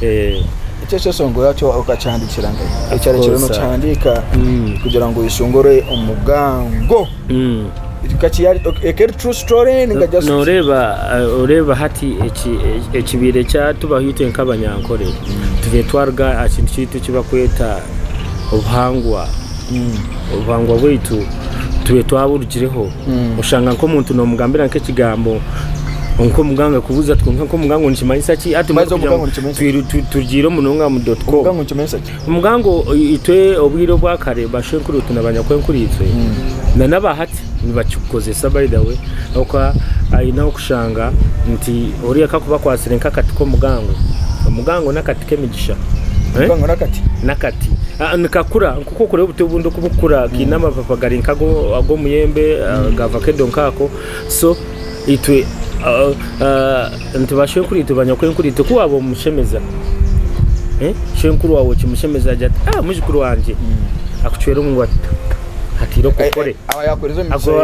Eki ekyeshongoro ekyo okakihandiikira nkahi? Ekyarekyerire nookihandiika kugira ngu oyeshongore omugango. Eka eri true story ninga just. Nooreeba oreeba hati ekibaire kyatubaho itwe nk'abanyankore, tubaire twaruga aha kintu kyaitu eki barikweta obuhangwa. Obuhangwa bwaitu tube twaburugireho oshanga nk'omuntu nomugambira nk'ekigambo nk'omuga nga kubuza ati konka nk'omuga ngu nikimanyisa ki ati Baitu omuga ngu nikimanyisa ki? twiru- tu- turugiire munonga mu dot com Obugango nikimanyisa ki? omuga ngu itwe obwire obwakare bashwenkuru itwe na banyakwenkuru itwe na n'abahati nibakikukozesa by the way ahabw'okuba aine ahu okushanga nti oriya ka akuba akwatsire nk'akati k'omugango, omugango n'akati k'emigisha. Eh? Omugango n'akati. N'akati. Ah, nikakura nk'oku okureba obuti obundi oku bukura, kaine amapapa gari nk'ago ag'omuyembe, ah, ga vakedo nk'ako. So, Itwe nti bashwenkuritu, banyakwenkuritu ku waaba omushemeza, shwenkuru waawe okimushemeza agira ati, ah mujukuru wangye akucwera omu ngwato hati ira okore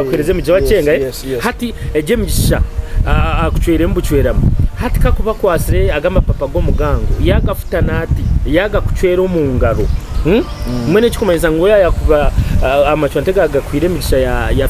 akuhereza emigisha wakyenga hati egi emigisha akucweremu bucweramu hati kakuba akwatsire aga amapapa g'omugango yaagafuta naati yaagakucwera omu ngaro mbwenu ekikumanyisa ngu yaaba yakuba amacwa nti gaagakwire emigisha ya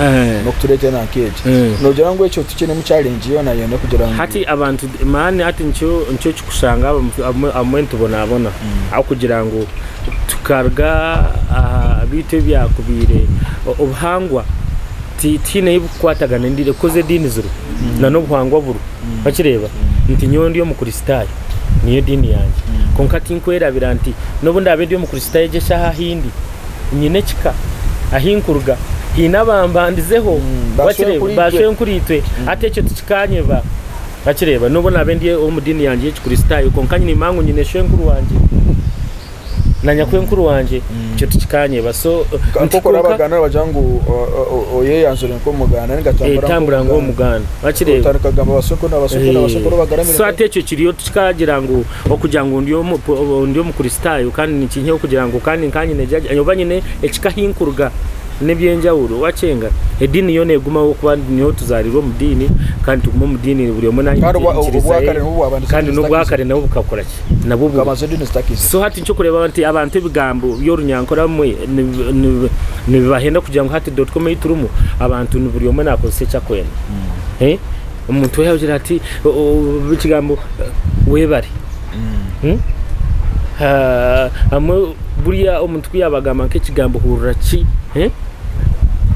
Eh. n'okutureetera na nk'egi. Eh. Noogira ngu ekyo tukiinemu challenge yoonayoona kugira ngu. Hati abantu mani hati nikyo nikyo okikushanga abamwe abamwe abamwe nitubonaabona ahabw'okugira ngu tukaruga aha baitu ebyakubaire o- obuhangwa ti- tihaine ei burikukwatagana endiini ekikoze ediini ziriho na n'obuhangwa buriho okireeba nti nyowe ndi omukristaayo niyo diini yangye kwonka tinkwerabira nti n'obu ndaabe ndi omukristaayo egi eshaaha ahu ndi nyine ekika ahi nkuruga haine abambandizeho, wakireeba, baashwenkuriitwe, hati ekyo tikikaanyeba, wakireeba, n'obu naabe ndi ow'omu diini yangye y'Ekikristaayo, kwonka nyine emangu nyine shwenkuru wangye na nyakwenkuru wangye, ekyo tikikaanyeba. So, nti kwonka tambura nk'Omuganda, wakireeba, so hati ekyo kiriyo tikikaagira ngu. Okugira ngu ndi Omukristaayo kandi nikinyeha okugira ngu kandi nkaba nyine jaaja oba nyine ekika ahi nkuruga n'eby'enjawulo. Wakyenga ediini yo neegumaho ahabw'okuba nyowe tuzaariirwe omu diini kandi tugume omu diini buri omwe naanye enyikiriza ye kandi n'obwakare nabwo bukakora ki? Nabwo buriho. So hati nkirikureeba nti abantu ebigambo by'orunyankore abamwe nibibahenda kugira ngu hati dotcom ei turimu abantu buri omwe naakozesa eki arikwenda. Omuntu yagira ati ekigambo webare buriya omuntu kuyaba agamba nk'ekigambo hurira ki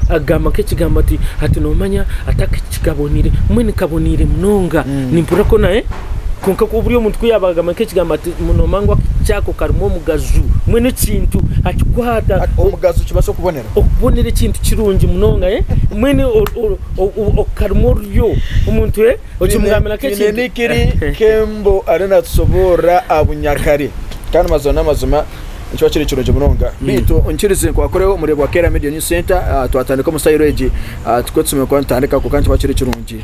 agamba nk'ekigambo ati ati nomanya atakikabonire mbwenu kabonire munonga mm. nimpurira ko naye eh? kwonka buri omuntu ku yaba agamba nk'ekigambo ati nomanya ngu kyako karimu omugaju mbwenu ekintu akikwata omugazu kibaasa okubonera Okubonera ekintu kirungi munonga eh mwene okukarimu oruryo omuntu eh okimugambira nka ekintu. Nyine nikiri kembo ari natusoborra aha bunyakare kandi mazima n'amazima nikiba kiri kirungi munonga mm. baitu nkirize nkwakureho omureebwa Kera Media News Center ah, twatandika omu sayiro egi ah, tukwe tusome kuba nitandika kuko nikiba kiri kirungi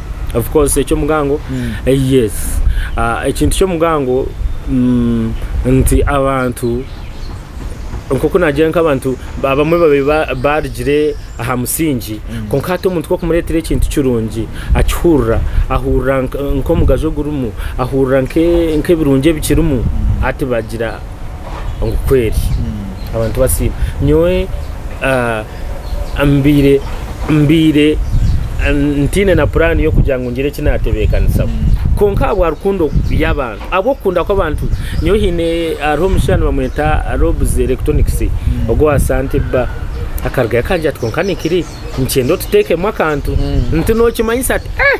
of course ekyomugango yes Ah, ekintu kyomugango mm, nti abantu nkoku nagira nkabantu abamwe babaire ba- barugire aha musingi kwonka hati omuntu kwokumuretera ekintu kirungi akihurira ahurira nk- nkomugasho ogurimu ahurira nke- nkebirungi ebikirimu hati bagira ngu kweri abantu basiima nyowe ah, mbaire mbaire ntaine na puraani y'okugira ngu ngire eki naatebeekanisaho kwonka ahabwa rukundo y'abantu ahabw'okukunda kw'abantu nyowe haine hariho omushaija nibamweta Robs Electronics ogwo wa Sante bba akarugayo akangira ati kwonka nikiri nikyenda otuteekemu akantu nti nookimanyisa ati eh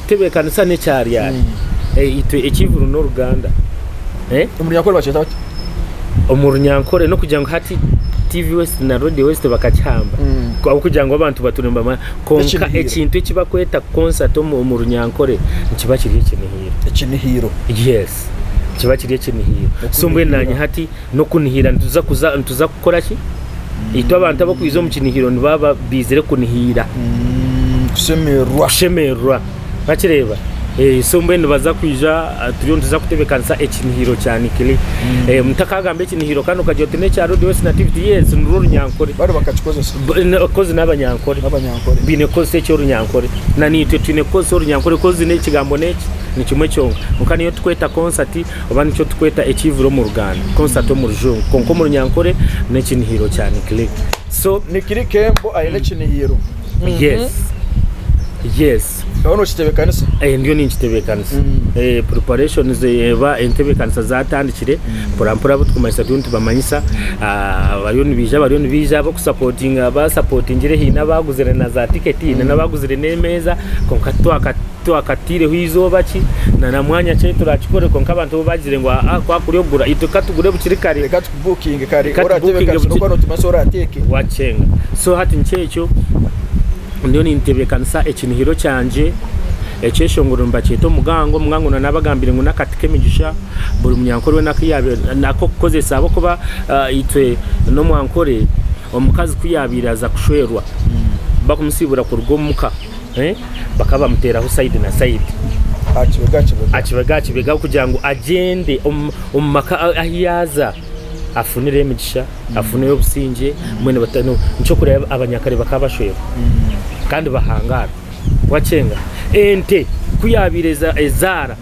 Tebeekanisa n'ekyaryari. Eh, itwe eky'eihuru n'oruganda. Eh, Omu Runyankore bakyeta bati. omu runyankore n'okugira ngu hati TV West na Radio West bakakihamba Mm. ahabw'okugira ngu abantu baturi nibamanya konka Ekinihiiro. ekintu eki bakweta concert omu omu runyankore nikiba kiri ekinihiiro Ekinihiiro. yes kiba kiri ekinihiiro so mbwenu Okunihira. nanye hati n'okunihira nituza kuza nituza Kukora ki? Itwe abantu abakwija omu kinihiro nibaba baizire kunihiira. Mm, kushemererwa. Kushemererwa. Bakireba? Eh, so mbwenu nibaza kwija ah, turiyo nituza kutebekanisa ekinihiro kya Nikili. Mm. Eh, omuntu akagamba ekinihiro kandi okagira oti n'ekya Road West Nativity. Yes, nirwo orunyankore. Bari bakakikozesa. B- n- Kozi n'abanyankore. N'abanyankore. Baine kukozesa eky'orunyankore. Na niitwe twine kukozesa orunyankore kozi n'ekigambo n'eki ni kimwe kyonka. Kwonka niyo tukweta konsati oba nikyo tukweta ekiivura omu Ruganda, concert omu Rujungu, kwonka omu Runyankore n'ekinihiiro kya Nikili. So. Nikili Kembo aine ekinihiiro. Yes. Yes. Oriho nookitebeekanisa? Eeh, ndiyo ninkitebeekanisa. Eeh, preparations oba entebeekanisa zaatandikire, mporampora abu turikumanyisa turiyo nitubamanyisa. Abariyo nibaija bariyo nibaija, ab'okusapotinga basapotingire, haine abaaguzire na zaatiketi, haine n'abaaguzire n'emeeza, kwonka titwaka. Twakataireho eizooba ki na na mwanya ki ahu turakikore kwonka abantu bo bagizire ngu aa ku akuri okugura itwe ka tugure bukiri kare. Reka tukubukinge kare Reka oratebe tubukinge kare bukiri- nokuba notumasa orateeke. wakyenga so hati nkyekyo ndiyo nintebekanisa ekinihiro kyangye ekyeshongoro nibakyeta omugango omugango na nabagambire ngu nakati kemigisha buri munyankore wena kuyabe nakokukozesa ahabwokuba ah, itwe nomwankore omukazi kuyabaire aza kushwerwa bakumusiibura kuruga omuka eh, bakaba bamuteeraho sayidi na sayidi aha kibega aha kibega aha kibega aha kibega kugira ngu agyende omu- omu maka a- ahu yaaza afunire emigisha afunire obusingye mbwenu bata- no- nikyokureba abanyakare bakaba bashwerwa kandi bahangaara wakyenga ente ku yaabaire eza- ezaara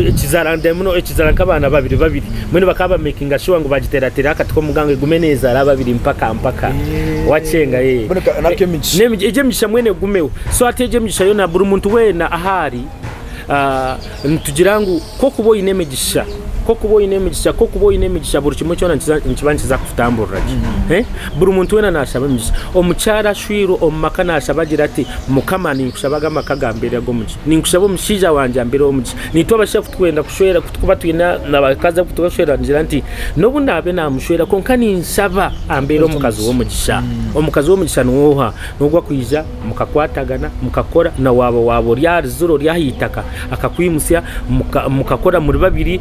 ekizara ndemuno ekizara nk'abaana babiri babiri mbwenu bakaba bamakinga shuwa ngu bagiteratera akati k'omugango egume nezara ababiri mpaka mpaka eh. wacenga ye eh. eh, egyo emigisha mwene egumeho so ati egyo emigisha yona buri muntu wena ahari ah, nitugira ngu kokuba oyine emigisha kokuba oyine emigisha kokuba oyine emigisha buri kimwe kyona nikiba nikiza kututamburira gye mm-hmm. eh, buri muntu wena nashaba emigisha omukyara ashwirwe omu maka nashaba agira ati mukama ninkushabaga amaka gambeere ag'omugisha Ninkushaba omushaija wangye ambere omugisha. Naitwe abashaija ku turikwenda kushwera, ku turikuba twine abakazi abu turikushwera, ningira nti, n'obu naabe naamushwera kwonka ninshaba ambere omukazi w'omugisha. Mm. Omukazi w'omugisha niwe oha? N'ogu akwija mukakwatagana, mukakora, na waaba waaba ori ahari ziro, ori aha itaka, akakwimutsya, muka- mukakora muri babiri,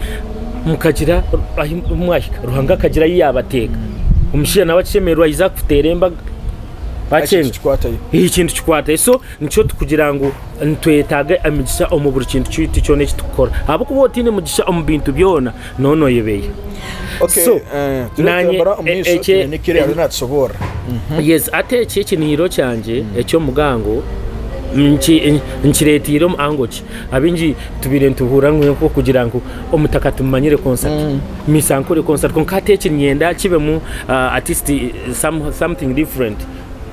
mukagira ahi mwahika. Ruhanga akagira ahi yaabateeka. Omushaija nawe akishemererwa aija kukuteera embaga. Eki Wakyenga? nikikwatayo. Ekintu kikwatayo. So, Nikyo kugira ngu nitwetaaga emigisha omu buri kintu kyaitu kyona eki turikukora. Ahabw'okuba otaine mugisha omu bintu byona, nooba nooyebeeya. Okay, So, eh, turiyo naanye, nitembera omu e- maisho ekye- twine ekiri ariyo natushoboorora Yes, hati eki ekiniiro kyangye eky'omugango nki- nkireeteire omu ango ki? Abaingi tubaire nituhuurira ngu nk'okugira ngu omutaka tumumanyire konsati, misa nkore konsati, kwonka hati eki niinyenda kibemu ah, at least some- something different.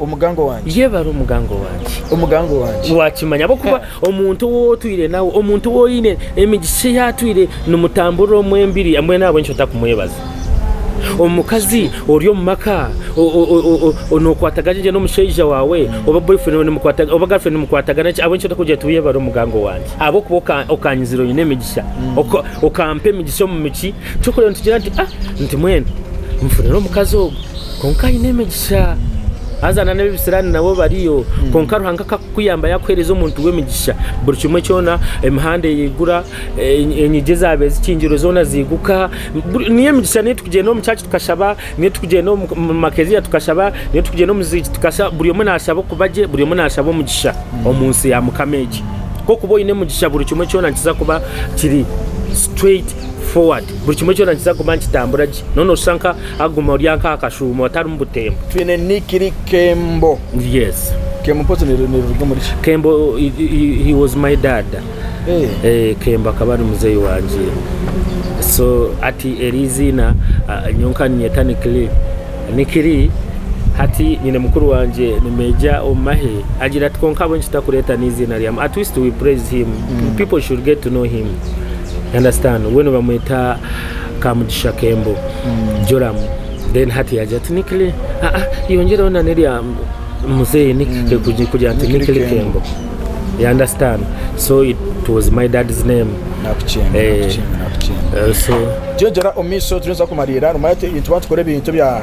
Omugango wangye. Yebare omugango wangye. Omugango wangye. Wakimanya ahabw'okuba omuntu ou otwire nawe, omuntu ou oine emigisha ei atwire nimutamburira omu embiri, mbwenu ahabw'enki otakumwebaza? Omukazi ori omu maka nookwatagana gye n'omushaija waawe oba boyfriend oba girlfriend nimukwatagana gye, ahabw'enki otakugira oti yebare omugango wangye ahabw'okuba okanyizire oine emigisha, okampa emigisha omu miki? Ky'okureba nitugira nti, Nti mbwenu nfunire omukazi ogu. Kwonka aine emigisha. Haza nana ebisirani nabo bariyo kwonka Ruhanga akakukuyamba yakuhereza omuntu w'emigisha buri kimwe kyona emihanda eyigura e- enyigi ezaaba ezikingirwe zoona ziiguka buri- niyo emigisha niyo tukugyenda omu church tukashaba niyo tukugyenda omu omu makeziya tukashaba niyo tukugyenda omu ziigi tukashaba buri omwe nashaba okuba gye buri omwe nashaba omugisha omu nsi ya Mukama egi k'okuba oine omugisha buri kimwe kyona nikiza kuba kiri straight forward buri kimwe kyona nikiza kuba nikitambura gye noona oshusha nka Aguma orya nka akashuuma otarimu butembo. Twine Nick ri Kembo. Yes. Kembo mpozi niriruga omuri ki? Kembo he was my dad. Hey. Eh. eh, Kembo akaba ari muzeyi wangye. So ati eri iziina uh, nyowe nkaninyeta Nikili. Nikili hati nyine mukuru wangye ni meja omu mahe agira ati konka habwe nkitakureeta n'iziina ryamu at least we praise him mm. people should get to know him understand we nibamweta Kamugisha Kembo, Joram, then hati yagira ati Nikile, ah ah, yongyereho na nerya muzeeyi Nikile, kugi- kugira nti Nikili Nikili Kembo. Kembo. You understand? So it was my dad's name. nakukyenda Eh. nakukyenda nakukyenda Eh, so jejera omu maisho turiyo nituza kumariira harimu ati ebintu batukukorera ebintu bya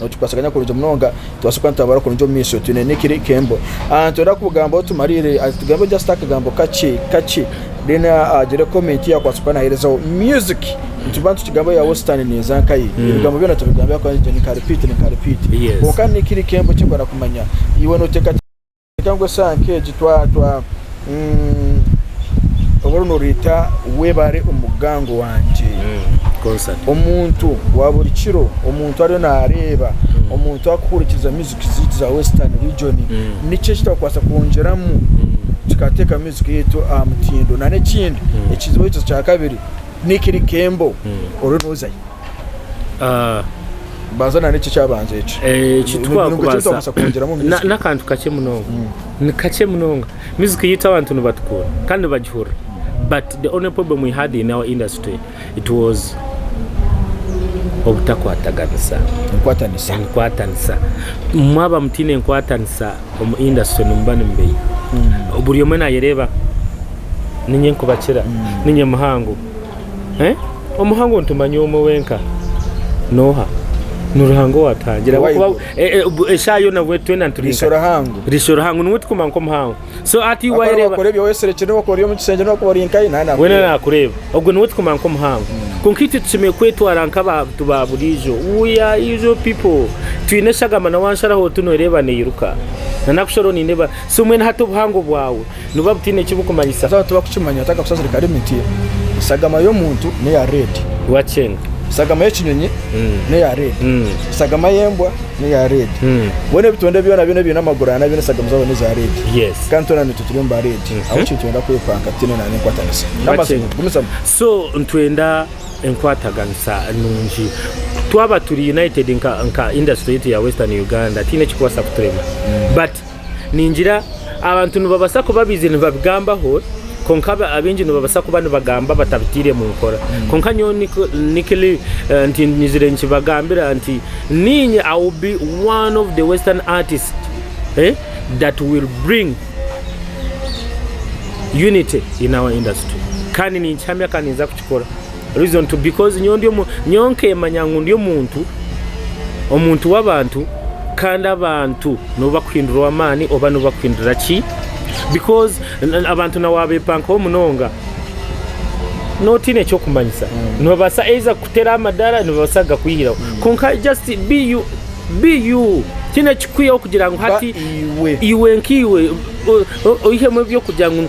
Ngu tukwasaganya kurungi munonga, tubaase kuba nitwabura kurungi omu maisho twine n'ekiri kembo. Nitwenda kubugambaho tumariire, tugambe just akagambo kakye kakye, then agire comment ei akwaasa kuba naherezaho. Music, nituba nitukigambaho yaaba ositaani neeza nkaye, ebigambo byona tubigambe ahabw'okugira ngu ninka repeat ninka repeat. Kwonka n'ekiri kembo eki nkwenda kumanya, iwe noteekateeka. Ningira ngu esanka egi oba noreeta webare omu mugango wangye, omuntu wa buri kiro, omuntu ariyo nareeba, omuntu arikuhurikiriza music zaitu za western region, niki eki twakubaasa kwongyeramu kikateeka music yaitu aha mutindo? Nana ekindi ekizibu ekyo kyakabiri, Nick Likembo oriyo nozayo? Ah, banza na n'eki ekyabanza eki eh, Nubwo eki ekintu twakubaasa twakubaasa kwongyeramu na- music. n'akantu kakye munonga ni kakye munonga music yaitu abantu nibatukunda kandi nibagihurira but the only problem we had in our industry it was obutakwataganisa Enkwatanisa. enkwatanisa mwaba mutaine enkwatanisa omu industry nimuba nimubeiha buri omwe nayereeba ninye nkubakira ninye muhango Omu hango nitumanya omwe wenka noha ni Ruhanga owatuhangira ahabw'okuba e, e, bu- eshaaha yona bwe twena nituri Riisho nka- Ruhango. riisho Ruhango niwe tukumanya nk'omuhango so hati Akora wayereeba wakora ebyo weserekire wakora omu kisengye nokuba ori nkaye nani wena akora. nakureeba ogwo niwe tukumanya nk'omuhango kwonka itwe tushemereire kwetwara nk'abantu ba buriijo we are usual people twine eshagama na wansharaho tu noreeba neiruka na nakusharaho nindeeba so mbwenu hati obuhango bwawe Nibuba butaine eki bukumanyisa. Twaba tutakukimanya, taka kusasira kare emiti. Esagama y'omuntu n'eya red. Wakyenga. Esagama y'ekinyonyi n'eya red. Esagama y'embwa n'eya red. Bwenu ebitonde byona byona ebiine amaguru ana byona esagama zabo n'eza red. Kandi twena naitwe turi omu ba red. Ahabw'enki nitwenda kwepanka tutaine na n'enkwatanisa n'amaziga? Gumizamu. So nitwenda enkwataganisa nungi. Twaba turi united nka nka industry yaitu ya Western Uganda tihaine ekirikubaasa kuturema. But. Ningira abantu nibabaasa kuba baija nibabigambaho kwonka abaingi nibabaasa kuba nibagamba batabitaire mu nkora. Hmm. Kwonka nyowe nikili eh, nti nyizire nkibagambira nti ninye I will be one of the western artists eh, that will bring unity in our industry kandi ninkihamya kandi ninza kukikora. Reason to because nyowe ndi omu nyowe nkemanya ngu ndi omuntu omuntu w'abantu kandi abantu nibo bakuhindura ow'amaani oba nibo bakuhindura ki because abantu na waabeepankaho munonga notiine ekyokumanyisa mm. nibabaasa eiza kukutera amadara nibabaasa gakwihiraho mm. konka just be you be you tiine kikwiho kugira ngu hati iwe nk'iwe oihemu ebyokugira ngu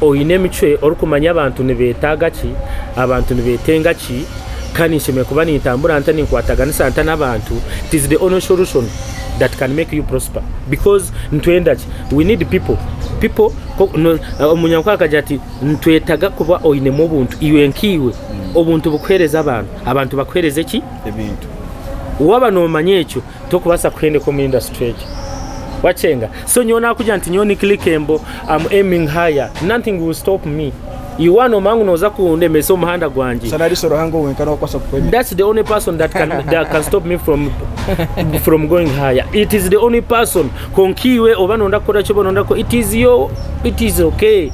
oine emicwe orikumanya abantu nibetaaga ki, abantu nibetenga ki, kandi nshemere kuba nintambura nta, ninkwataganisa nta n'abantu, it is the only solution that can make you prosper because nitwenda ki, we need people, people omunyankore akagira ati nitwetaga kuba oinemu obuntu iwe nkaiwe, obuntu bukuhereza abantu, abantu bakuhereze ki, ebintu, waba nomanya ekyo. Tokubaasa kuhendeka omu industry egyo. Wakyenga? So nyowe nakugira nti nyowe ni clickable, I'm aiming higher. Nothing will stop me. Iwe waaba nomanya ngu noza kundemesa omu muhanda gwangye. Shana ariso Ruhanga owe wenka n'owakubaasa kukwemera. That's the only person that can, that can stop me from, from going higher. It is the only person. Konka iwe oba nonda kukora ki oba nonda kukora, it is your, it is okay.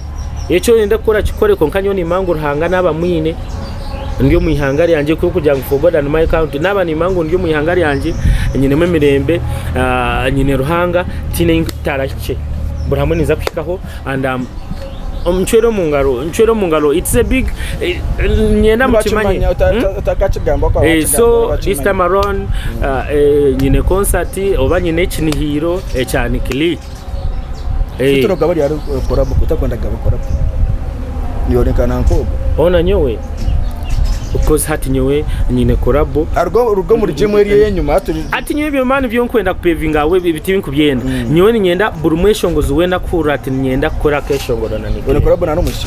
Ekyo oyenda kukora kikore konka nyowe nimanya ngu Ruhanga naaba amwine. ndi omu ihanga ryangye kuri kugira ngu for God and my country naaba nimanya ngu ndi omu ihanga ryangye nyinemu emirembe ah, nyine ruhanga tiine ei ntarahikye buri hamwe ninza kuhikaho and um, um, ncwere omu ngaro ncwere omu ngaro it's a big eh, nyenda mukimanye Nibakimanya, uta- Hmm? uta- utakakigamba kwa Eh, bakigamba, so nibakimanya. this time around uh, eh, nyine concert oba nyine ekinihiiro ekya nikili Eh, Titiro gaba ryari korabo kutakwenda gaba korabo. Niyorekana nkogo. ona nyowe because hati nyowe nyine korabo Arugo rugo muri gym eri enyuma aturi. ati nyowe ebyo mani byo nkwenda kupevinga awe ebiti binkubyenda nyowe ninyenda buri mweshongozi wena kuhurira ati ninyenda kukora akeshongoro na Niko Nikirere. korabo na n'omusi.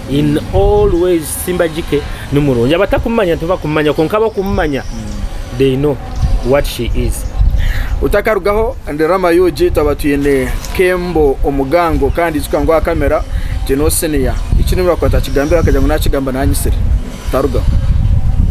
In all ways Simbagike ni murungi. Abatakumumanya tibakumumanya kwonka abakumumanya they know what she is. Utakarugaho ndi Rama Ug twaba twine Kembo Omugango kandi ijuka ngu aha kamera twineho Senior. Eki nibakwata akigambire akagira ngu nakigamba nanyitsire. Tarugaho.